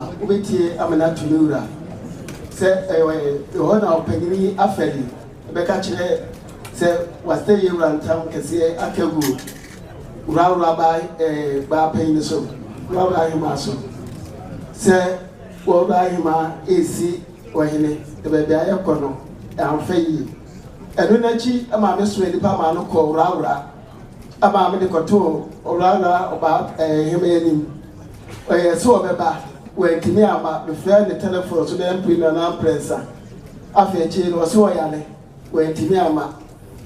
Wobɛtie ama no ato ne wura sɛ ɛyɛ ɛhɔ na ɔpanyin yi afɛde bɛka akyerɛ sɛ wasɛe wura ntam kɛseɛ aka agu wurawura baa ɛɛ baa panyin so wurawura ahemaa so sɛ wɔwura ahemaa resi ɔhene baabi a ɛkɔ no amfa yie ɛno n'akyi maame soɛ nipa maa no kɔ wurawura Ɛmaa mede kɔtoo Owura Obah Ahemman anim. Ɔyɛɛ sɛ ɔbɛba, wantumi amma. Mefrɛɛ no telefon so dɛ mprenu anaa mprɛnsa. Afei akyiri yi no, ɔse ɔyare, wantumi amma.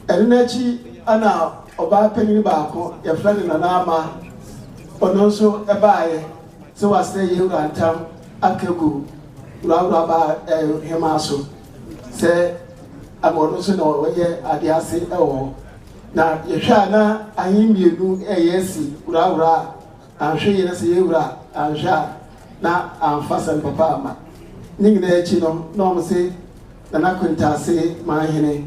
Ɛno no akyi na ɔbaa panyin baako, yɛfrɛ no Nana Ama, ɔno nso baeɛ sɛ wasrɛ yɛn wura ntam aka agu Owura Obah Ahemman so. Sɛ ama ɔno nso na ɔyɛ ade ase wɔ hɔ. Na yɛhwɛ a na ahe mmienu ɛyɛ si wurawura a anhwɛ yɛ na sɛ yɛwura a anhwɛ a na amfa sɛm papa ama. Ne nyinaa akyi no na wɔn se Nana Kwintase Manhene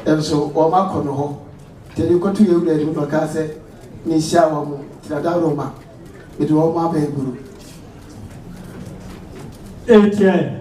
nso wɔn akɔ no hɔ. Tɛni kɔto yɛwura anim na ɔkaa sɛ mehyia wɔn tirada Roma mede wɔn aba aburo. Etienne.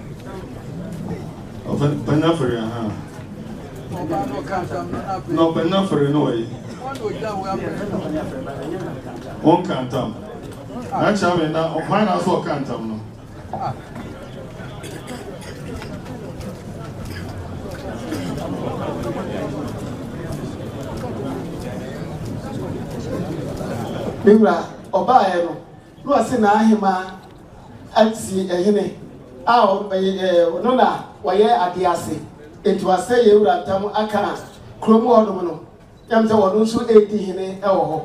ɔpanyin afɔre aha na ɔpanyin afɔre no wɔ yi wɔn ka ntam n'akyɛ ame na ɔpan na so ɔka ntam no. Mewura ɔbaeɛ no na ɔse n'ahemaa atie hene a ɔno na ɔyɛ adeɛ ase. Enti wasɛe yɛn wura ntam aka kurom hɔnom no, ɛnam sɛ ɔno nso redi hene wɔ hɔ.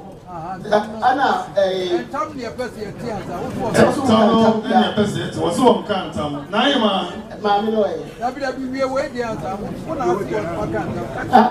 Ɛna ɛɛ. Ntam ne ɛpɛ sɛ yɛte asa wofoɔ. Ntam no ne ɛpɛ sɛ yɛte wɔsi wɔn ka ntam na ayɛ maa. Maame no ɛyɛ. Dabi dabi wie wɔ edi asa wofo na ase wɔn ka ntam.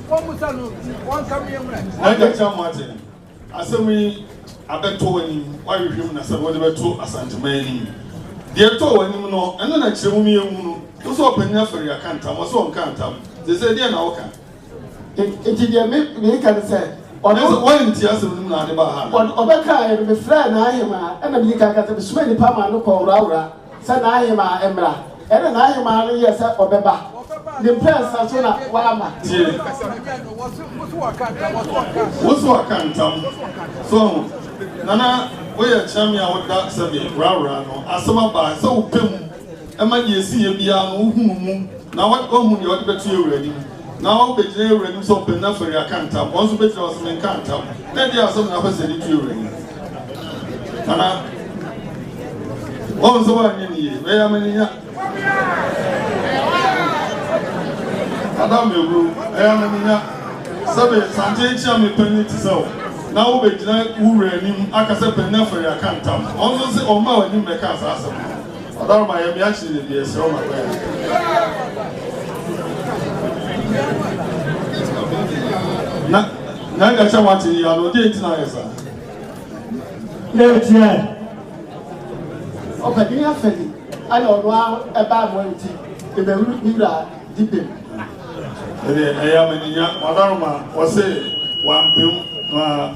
Wɔmmisa no nti, wɔnka me mmrɛ. N'agya Kyang Martin, asɛm yi abɛtɔ w'anim, woahwehwɛ mu na sɛdeɛ wode bɛto Asanteman anim. Deɛ ɛtɔɔ w'anim no, ɛno na kyerɛ mu ma yɛnhu no. Wo sɛ ɔpanin afari aka ntam, ɔse ɔnka ntam. Seesei deɛn na woka? Enti deɛ me, mereka ne sɛ, ɔno. Ɛsɛ woantie asɛm no mu na ade baa ha anaa? Ɔno, ɔbɛkaeɛ no, mefrɛɛ n'ahemaa, ɛna meyii kankatebesomaa nnipa maa no kɔɔ Wrawra. sɛ n'ahemaa mmra, ɛnna n'ahemaa no yɛɛ sɛ ɔbɛba ne mprɛnsa so na wamma. Tie! Wo so aka ntam. So ahu? Na na woyɛ kyerɛ me a woda sɛ me worawora no, asɛm aba, sɛ wopɛ mu ma deɛ ɛsiiɛ biara no, wohunu mu na woahu deɛ wode bɛto yɛn wura anim. Na wɔn bɛgyina yɛn wura anim sɛ ɔpanin na fari aka ntam. Wɔn nso bɛgyina hɔ sɛ, Menkaa ntam. Na ɛdeɛn asɛm na wopɛ sɛ yɛde to yɛn wura anim? Anaa wɔn sɛ wɔanyɛ ne yie, bɛyɛ ama ne nya. Ada mmɛwuro, ɛyɛ ama ne nya. Sɛbe sante nkyea me panin te sɛ wo. Na wobɛgyina wo wura anim aka sɛ, Panin na fari aka ntam. Wɔn nso sɛ wɔn mmaa w'anim bɛkaa saa asɛm no. Ɔdɔ ma yɛ mi akyiri ne deɛ sɛ ɔma kɔ Na na ɛka kyɛ wate yi ano deɛ ntina yɛ saa. N'ekyirɛ ɔpɛdini afɛdi ɛna ɔno a ɛbaa mɔ nti ebɛwuru ne wura dibem. Ɛdeɛ ɛyɛ amaninya ɔdɔ ma ɔse wampem na.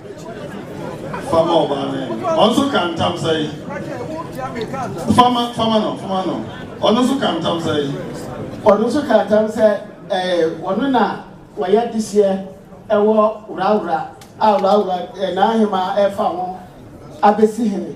Fa ma ɔbaa no yɛ. Ɔno nso ka ntam sɛ. Fa ma, fa ma no, fa ma no. Ɔno nso ka ntam sɛ. Ɔno nso ka ntam sɛ ɛɛ ɔno na wɔyɛ dehyeɛ ɛwɔ Wrawra a Wrawra ɛɛ n'ahemaa ɛfa ho abɛsi hene.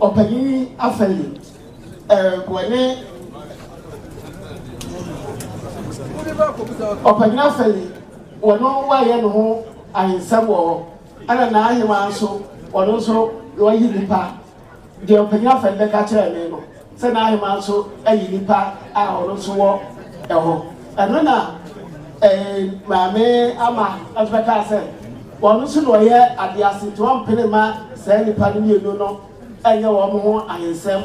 Ɔpanyin yi afei reboa ne ɔpanyin afei wɔno wɔayɛ ne ho ahensɛm wɔ hɔ ɛna n'ahemaa nso wɔno nso wɔayi nipa deɛ ɔpanyin afei bɛka kyerɛ me no sɛ n'aheman nso ayi nnipa a ɔno nso wɔ hɔ. Ɛno na Maame Ama nso bɛkaa sɛ, ɔno nso na ɔyɛ adeɛ ase nti ɔmpene mma saa nnipa no mmienu no nyɛ wɔn ho ahensɛm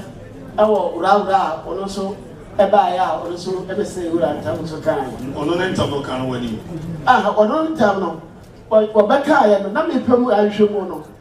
wɔ wurawura a ɔno nso baeɛ a ɔno nso bɛsɛe wura ntam nso kaa. Ɔno ne ntam no kaa no w'anim. Aha, ɔno ne ntam no wɔbɛkaeɛ no na mepɛ mu ahwehwɛ mu no.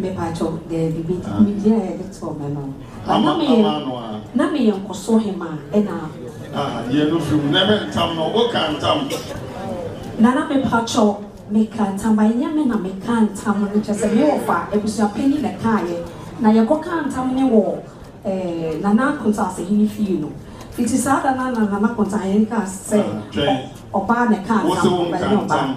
Mepakyɛw, dabi, bi biribi a yɛde too me no. But na meyɛ, na meyɛ nkɔso hemaa ɛna. Ah, yɛ no fi mu, na ɛbɛ ntam no, wo ka ntam. Nana mepakyɛw, me ka ntam, but nyɛ me na me ka ntam no, kyerɛ sɛ me wɔfa, abusua panyin na ɛkaayɛ, na yɛ kɔ kaa ntam ne wɔ eh, Nana Akonta Asahene fie no. Fiti saa da no ara na Nana Akonta Ahene kaa sɛ, ɔbaa na ɛka ntam, but nyɛ ɔbaa.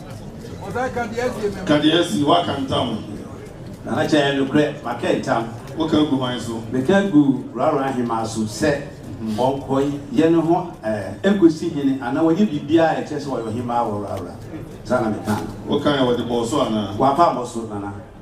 Kadiesi, Woaka ntam o. Nana Kyɛ, Ɛyɛ nokorɛ, maka ntam. Woka gu hwan so? Meka gu Rara Ahemaa so sɛ ɔnkɔ yɛ ne ho ɛɛ nkɔsi hene anaa ɔnyɛ biribiara a ɛkyerɛ sɛ ɔyɛ ɔhemaa wɔ Rara. Saa na mekaa no. Wokaeɛ, wɔde bɔɔ so anaa? Wɔamfa ammɔ so, Nana.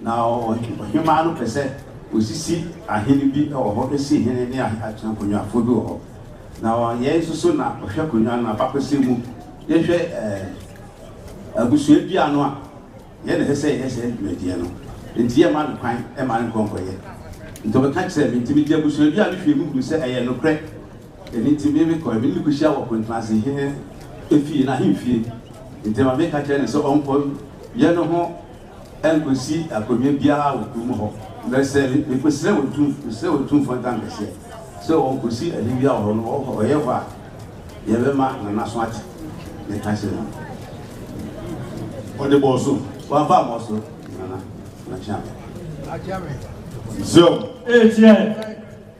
Na ɔhemmaa no pɛ sɛ ɔsisi ahene bi wɔ hɔ, si hene ne akonwafoɔ bi wɔ hɔ. Na yɛn nso so na ɔhwɛ konwa no abakɔsɛm mu. Yɛhwɛ abusua bi ano a, yɛn na ɛsɛ sɛ yɛyɛ saa dwumadie no. Nti yɛmma no kwan ma no nkɔ nkɔyɛ. Nti ɔbɛka kyerɛɛ me, nti mede abusua bi a mehwɛɛ mu hunu sɛ ɛyɛ nokorɛ. Ɛno nti me mekɔɛ, me ne no kɔhyia wɔ Kontrase hene fie, n'ahemfie. Nti ma meka kyerɛ no sɛ ɔnkɔ yɛ no ho. ɛnkɔsi akonnwa biara wɔ kurom hɔ, na sɛ mekɔsrɛ wɔn tum, mesrɛ wɔn tumfoɔ ntankɛseɛ sɛ ɔnkɔsi ahe biara wɔ hɔ no, ɔhɔ, ɔyɛ hɔ a, yɛbɛma nanaso ate, meka kyerɛ no. Ɔde bɔɔ so, wamfa ammɔ so, nana, na kyea me. Zion. Ekyɛ.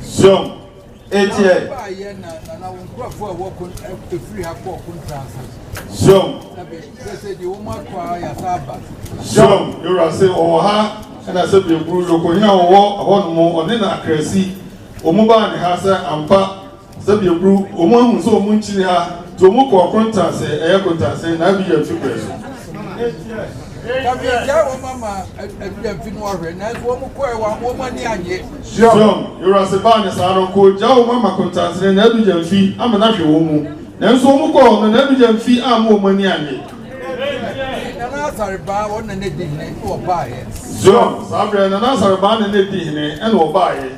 Zion, etie. Zion. Zion, yɛwura se ɔwɔ ha ɛna sɛ bieburu yoko hena ɔwɔ hɔ nom ɔne na akrasi wɔn baa ne ha sɛ ampa Sɛdeɛ bru wɔn ahu sɛ wɔn nkyiri ha nti wɔn kɔ ɔko ntaase ɛyɛ ko ntaase na abi yɛ mfe brɛ so. Ka megyae wɔn ama abi yɛ mfe no ahwɛ nanso wɔn kɔɛ wɔn wɔn ani anye. Siom yewurase baa ne saa no ko gyae wɔn ama ko ntaase na abi yɛ mfe ama na hwɛ wɔn mu nanso wɔn kɔ wɔn no na abi yɛ mfe ama wɔn ani anye. Ti nana asare baa wɔn nana di hene ɛna ɔbaa yɛ. Siom saa brɛ nana asare baa nana di hene ɛna ɔbaa yɛ.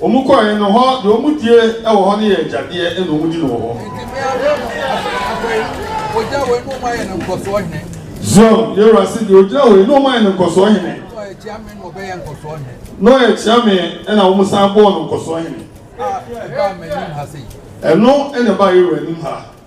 Wɔn kɔɔɛ no hɔ deɛ wɔn die wɔ hɔ no yɛ agyadeɛ ɛna wɔn di no wɔ hɔ. Zion yewura se deɛ ogyina hɔ yi na wɔn ayɛ no nkɔsoɔ hene. Na ɔyɛ kyea me ɛna wɔn san bɔɔ no nkɔsoɔ hene. Ɛno ɛna ɛbaa yewura anim ha.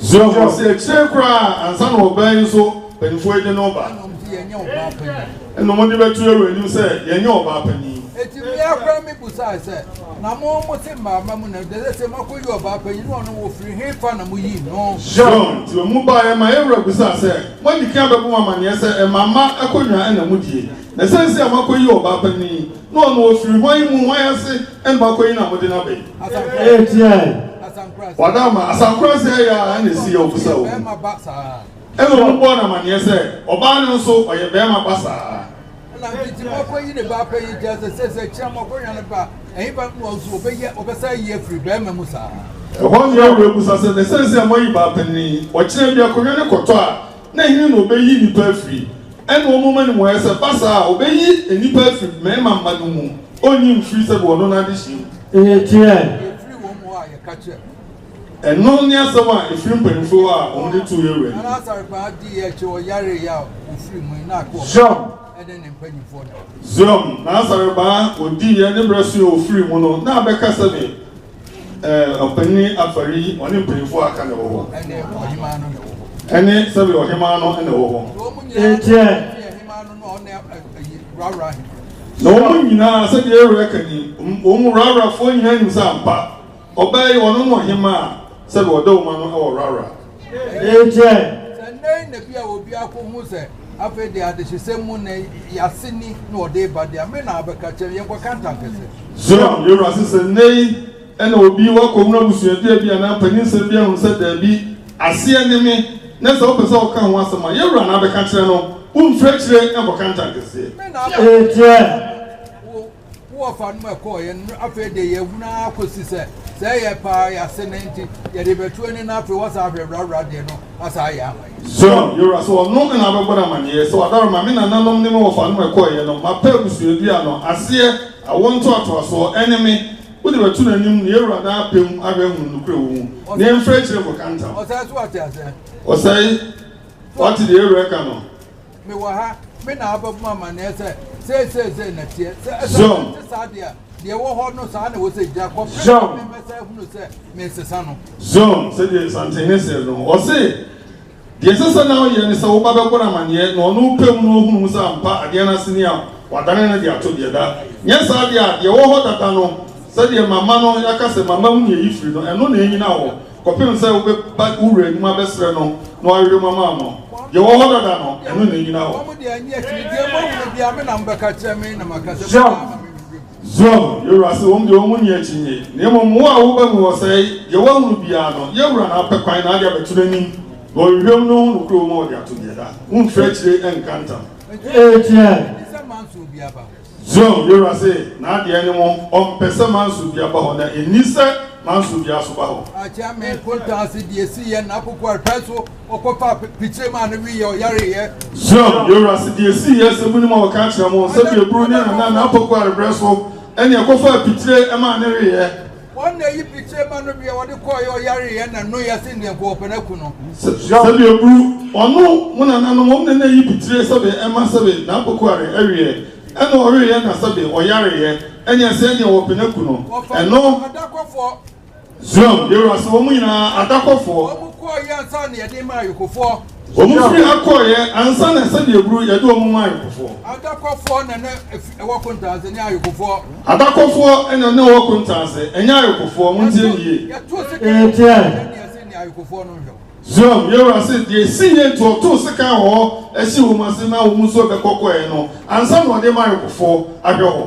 So ɔsi akyire koraa ansa na ɔbaa yi nso mpanyinfoɔ yi de no ba? Ɛna wɔn de bɛtu Yɛhwɛ anim sɛ yɛnyɛ ɔbaa panyin. Eti mmea koraa mi busae sɛ, na mo mo te mmaama mu na dede sɛ mako yi ɔbaa panyin na ɔno wɔfiri he fa na mo yi no? John ti wɔn baa yɛ ma yɛn wura busaa sɛ, mo adi kan bɛbɔ mo amaneɛ sɛ mmaama akonnwa ɛna mo die na sɛnsi a mako yi ɔbaa panyin na ɔno wɔfiri hwan mu hwan ase Mbakɔ yi na mo de no aba yi. Eye tiaa wɔn a ma Asankora sɛɛ yɛ a ɛna esi yɛ ɔbo sɛ ɔbo. Ɛna obi bɔɔ no amaneɛ sɛ ɔbaa no nso ɔyɛ bɛɛma ba saa. Ɛna nketewa akɔ yi ne ba akɔ yi nti asɛ sɛ sɛ kyerɛ mo akɔ hwɛ no ba ɛhe ba no nso ɔbɛ yɛ ɔbɛ saa yi afiri bɛɛma mu saa. Ɛhɔ nyɛ ɔbɛ busa sɛ na sɛ sɛ mo ayi baa panini ɔkyerɛ bi akɔ hwɛ no kɔtɔ a Na hena na ɔbɛyi nnipa afiri? Ɛnna wɔn moma no mmuaeɛ sɛ, Ba saa a, ɔbɛyi nnipa afiri mmarima mma no mu, ɔnyi mfiri sɛdeɛ ɔno n'adehyeɛ mu. Eye kyerɛ. Ɛno ne asɛm a ɛfiri mpanimfoɔ hɔ a wɔde too yɛn wura no. Zion, Zion, N'asɔrebaa ɔdiiɛ, ne berɛ soeɛ, ɔfirii mu no, na abɛka sɛdeɛ. Ɛɛ ɔpanyin afɔre yi, ɔne mpanyinfoɔ a aka na ɛwɔ hɔ. Ɛne ɔhemaa no na ɛwɔ hɔ. Ɛne sɛbi ɔhemaa no na ɛwɔ hɔ. Nkyɛn. Na wɔn nyinaa sɛbi ɛwura ka ni, wɔn mu rawurafoɔ nyinaa nim sɛ ampa ɔbaa yi ɔno na ɔhemaa sɛbi ɔdawoma no ɛwɔ rawura. Ɛnkyɛ. Sɛ nnɛ yi na bi a obi akohu sɛ afei deɛ adehyesɛm mu nnɛ yi ase ni na wɔde reba deɛ a, me na abɛka akyerɛ no, yɛnkɔka ntankɛse. Zion, yɛn wura se sɛ nnɛ yi na obi wakɔhunu abusuadua bi anaa mpanyinsɛm bi ahunu sɛ daabi, aseɛ ne me, na sɛ wopɛ sɛ ɔka ho asɛm a, yɛn wura na abɛka akyerɛ no, womfiri akyire nkɔka ntankɛseɛ. Ɛnkyɛ. Wo wɔfa no mu ɛkɔɔ yɛn no afei de yɛn hunu ara kɔsi sɛ sɛ yɛ paa yɛase ne nti yɛde bɛto ani na afei wɔsan ahwɛ wurawura deɛ no asan ayɛ ama yɛn. Zion, yɛwura sɛ ɔno na abɛbɔ no amaneɛ sɛ ɔdaro ma me nananom ne me wɔfa no mu ɛkɔɔ yɛn no mapa abusuadua no aseɛ awoɔ ntoatoasoɔ ɛne me wode bɛto no anim na yɛwura daa pɛm ahwɛ ahunu nokorɛ wɔ mu na yɛmfiri akyire nkɔka ntam. Ɔsɛe so wate aseɛ. Ɔsɛe, wate deɛ yɛwura ɛka no. Mewɔ ha, me na abɛbɔ mo amanneɛ sɛ, Sei, sei, sei na ɛteɛ. Sɛ ɛsɛ sɛ ɛte saa de a, deɛ ɛwɔ hɔ no, saa na ɛwɔ sɛ ɛgyina, kɔpem sɛ mɛsan ahunu sɛ meresesa no. Zon, sɛdeɛ Nsantehene seɛ no, ɔse, Deɛ ɛsɛ sɛ na ɔyɛ ne sɛ wo ba bɛbɔ no amanneɛ na ɔno pɛ mu na ɔhunu mu sɛ ampa adeɛ no ase ni a, wadane no de ato deɛ da. Nyɛ saa deɛ a, deɛ ɛwɔ hɔ dada no, sɛdeɛ mama no, yɛaka sɛ mama mu na yɛyi firi no, ɛno na ɛnyina hɔ. Kɔpem sɛ wobɛba wo wura anim abɛsrɛ no na wahwehwɛ mu ama wo no, yɛwɔ hɔ dada no, ɛno na ɛnyina hɔ. Zion, Zion, yɛwura se, wɔn deɛ wɔn nni akyinnye, na mmom wo a woba mu hɔ sɛe, deɛ woahunu biara no, yɛn wura na apɛ kwan na ade abɛto n'anim, na ɔhwehwɛ mu no ho no kuro mu a ɔde ato deɛ da, womfiri akyire nka ntam. Enti ɛ? Zion Yewura se n'adeɛ ne mo, ɔmpɛ sɛ manso bia ba hɔ, na enni sɛ manso bia so ba hɔ. Akyɛ me kontaase deɛ siiɛ n'akokoaa hwɛ so ɔkɔfaa pikyire maa no weeɛ ɔyareeɛ. Zion Yewura se deɛ siiɛ sɛ monim a wɔka akyerɛ mo, sɛ pieburu ne nana n'apokoaa rebrɛ so, ɛne ɛkɔfaa pikyire maa no weeɛ. Wɔn na eyi bi kyerɛ ma no bia wɔde kɔɔeɛ ɔyareeɛ na no yɛ se ndeɛ kɔɔ pɛ na ku no. Sɛbio bru ɔno mo nananom wɔn na na eyi bi kyerɛ sɛbe ɛma sɛbe n'apokuare ɛweɛ ɛna ɔweeɛ na sɛbe ɔyareeɛ ɛneɛ se ɛneɛ wɔpɛ na ku no ɛno. Wɔfa adakɔfoɔ. Zion, Yewura se wɔn nyinaa adakɔfoɔ. Wɔn kɔɔeɛ ansa na yɛde maa ayɔkofoɔ. Wɔn firi ha kɔeɛ ansa na ɛsɛ deɛ buru yɛde wɔn ma ayɔkofoɔ. Adakɔfoɔ na na ɛwɔ kontaase ne ayɔkofoɔ. Adakɔfoɔ na na ɛwɔ kontaase ɛnyɛ ayɔkofoɔ mo ntie nie. Yɛtoo sekan wɔ hɔ sɛdeɛ ɛsɛ ne ayɔkofoɔ no nhwɛ. Zion yɛwura se deɛ ɛsi nie nti ɔtoo sekan wɔ hɔ ɛsi wɔn ase na wɔn nso bɛkɔ kɔeɛ no ansa na ɔde ma ayɔkofoɔ ahwɛ hɔ.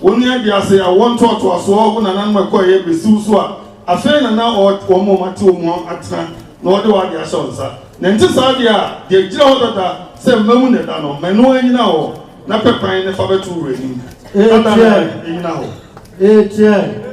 Onua de ase awoɔ ntoatoasoɔ wo nananom ɛkɔeɛ bɛsi wo so a, afei na na ɔɔ wɔn a wɔate wɔn mu atena na ɔde w'adeɛ ahyɛ wo nsa. Na ɛnte saa deɛ a, deɛ ɛgyina hɔ dada sɛ mma mu na ɛda no, ma ɛno ara nnyina hɔ, na pɛ kwan na fa bɛto wo wura anim. Adɛn na ɛnnyina hɔ? Eeteɛɛ!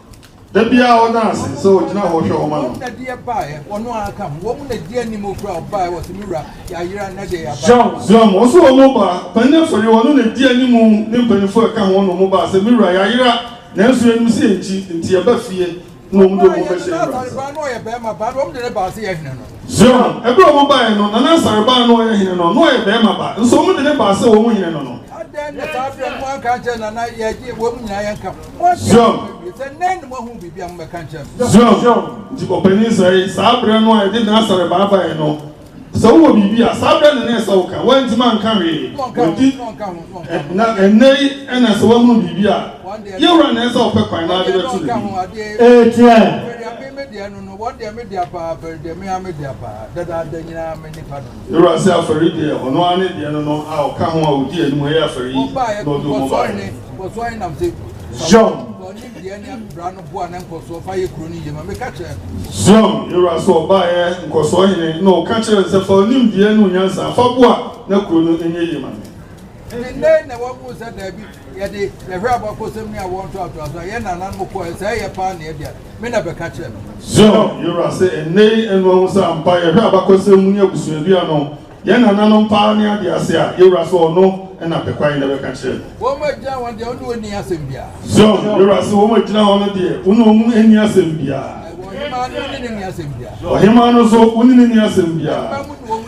Da biara ɔda ase sɛ ɔgyina hɔ hwɛ wɔn ano. Jean Ziom, ɔso wɔn mu ba panin afɔri, ɔno na edi anim ne mpanyinfoɔ ɛka ho na wɔn ba sɛ me wura yayera nanso yɛnim sɛ yɛnkyi nti yɛba fie na wɔn de wɔn bɛhyɛ me wura nsa. Ziom, ɛberɛ wɔn baeɛ no Nana Asareba a na ɔyɛ hene no na ɔyɛ barima ba nso wɔn de ne ba sɛ wɔn hene no no. Zion. Zion. Nti ɔpanyin sɛ saa berɛ no a yɛde Nasare baabaeɛ no, sɛ wowɔ biribi a saa berɛ no na ɛsɛ woka. Woantumi anka hwee. Wadi na ɛnnɛ yi ɛna sɛ woahunu biribi a, yɛwura na ɛsɛ ɔpɛ kwan na ade bɛto no bi. Ɛteɛ. Fɛredeɛ me deɛ no no, wɔn deɛ me dea paa, fɛredeɛ me ara me dea paa, dadaada nyinaa me nipa no. Ewura se afɔri deɛ ɔno ara ne deɛ no no a ɔka ho a odi anim ɛyɛ afɔri yi na ɔde wɔn baeɛ. Zion, Zion, Ewura se ɔbaeɛ nkɔsoɔ hene na ɔka kyerɛɛ no sɛ fa onimdeɛ ne onyansa fa boa na kuro no nyɛ yie ma me. Yɛde yɛhwɛ abakɔsɛm ne awoɔ ntoatoasoɔ a yɛn nananom kɔɔɛ, sɛ ɛyɛ paa nea ɛbia me na bɛka kyerɛ me. Zion, yɛn Wura, sɛ ɛnnɛ yi ɛno ahu sɛ ampa yɛhwɛ abakɔsɛm mu ne abusuadua no, yɛn nananom paa ne adeɛ ase a, yɛn Wura, sɛ Ɔno na pɛ kwae na bɛka kyerɛ me. Wɔn agyina hɔ deɛ, wo ne wɔn nni asɛm biara. Zion, yɛn Wura, sɛ wɔn agyina hɔ no deɛ, wo ne wɔn nni asɛm biara. Ɔhemaa no, wo ne no nni asɛm biara. Ɔhemaa no nso, wo ne no nni asɛm biara.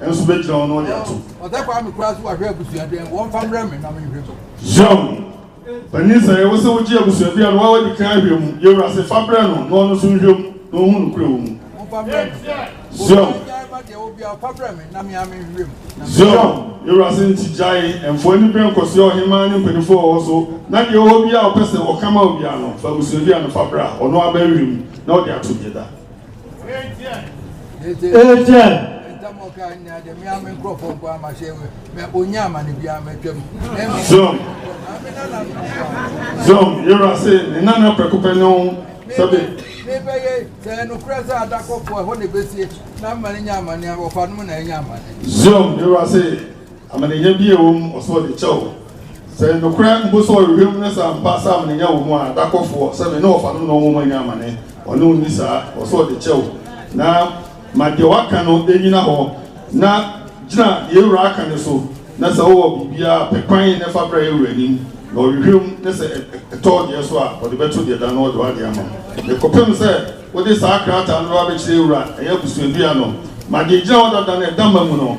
nso bɛgyina hɔ na ɔde ato. Ɔsɛ Kwame koraa so wahwɛ abusua dɛn wɔmfa mbrɛ me na menhwɛ so. Young, Panin sɛ ɛwɔ sɛ wogye abusua bi a na woa wadi kan ahwɛ mu, yɛwura se fa brɛ no na ɔno nso nhwɛ mu na ɔhu nokorɛ wɔ mu. Momfa mbrɛ me. Young, Obiara gyae ma deɛ ɔwɔ biara ɔfa brɛ me na me ara menhwɛ mu na me. Young, Yɛwura se nti gyae ɛmfoɔ ani berɛ nkɔsoɛ ɔhemaa ne mpaninfoɔ a wɔwɔ so na deɛ ɔwɔ biara a ɔpɛ sɛ ɔka ma obiara no fa abusua bi a no fa brɛ a ɔno ara bɛhwɛ mu na ɔde ato deɛ da. Etienne. Zoom. Zoom. Yɛrɛ se ne nana pɛko pɛ ne ho sɛbe. Ne bɛ ye sɛ nukura sɛ adakɔfo ɛhɔ na ebesie na mma ne nya amane a wɔfa no mu na ɛnya amane. Zoom. Yɛrɛ se. Amanenya bi a ɛwɔ mu ɔsɛ ɔde kyɛ wo sɛ nokorɛ mpo sɛ ɔrehwɛ mu no sɛ ampa sɛ amanenya wɔ mu a da kɔfoɔ sɛ me ne ɔfa no na ɔnwom anya amane ɔne wo nni saa ɔsɛ ɔde kyɛ wo na ma deɛ waka no ɛnyina hɔ na gyina yɛ wura aka no so na sɛ wowɔ biribiara pɛ kwan na fa bra yɛ wura anim na ɔrehwɛ mu ne sɛ ɛtɔ ɔdeɛ so a ɔde bɛto deɛ da no ɔde wade ama ne kɔpem sɛ wode saa krataa no bɛba bɛkyerɛ yɛ wura ɛyɛ abusuadua no ma deɛ gyina hɔ dada no ɛda ma mu no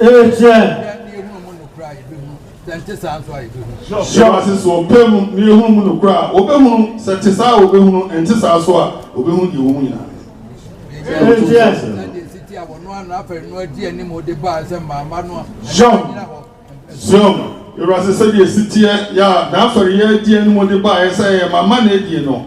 Amen. Sɛ nte saa nso a yɛbɛhunu. Hyɛ w'ase sɛ ɔpɛ mu na yɛhunu mu nokorɛ a wɔbɛhunu sɛ te saa a wɔbɛhunu ɛnte saa nso a wɔbɛhunu deɛ wɔn mu nyinaa Zion Awurase sɛdeɛ ɛsiteɛ yɛ a n'afɛreyɛ adi anim de baeɛ sɛ ɛyɛ mama na adie no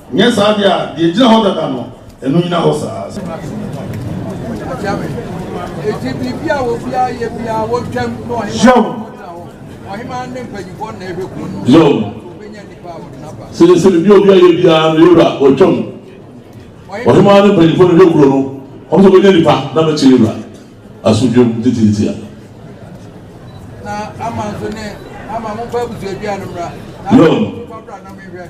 Nyɛ saa deɛ a, deɛ ɛgyina hɔ dada no, ɛno nnyina hɔ saa. Yoh. Yoh. Seesei biribi a obi ayɛ biara no, yɛwura, ɔtwam. Ɔhemaa ne mpanyimfoɔ no hwɛ kuro no, wɔn nso wɔbɛnya nipa na bɛkyerɛ yɛwura asodwam titiitia. Yoh.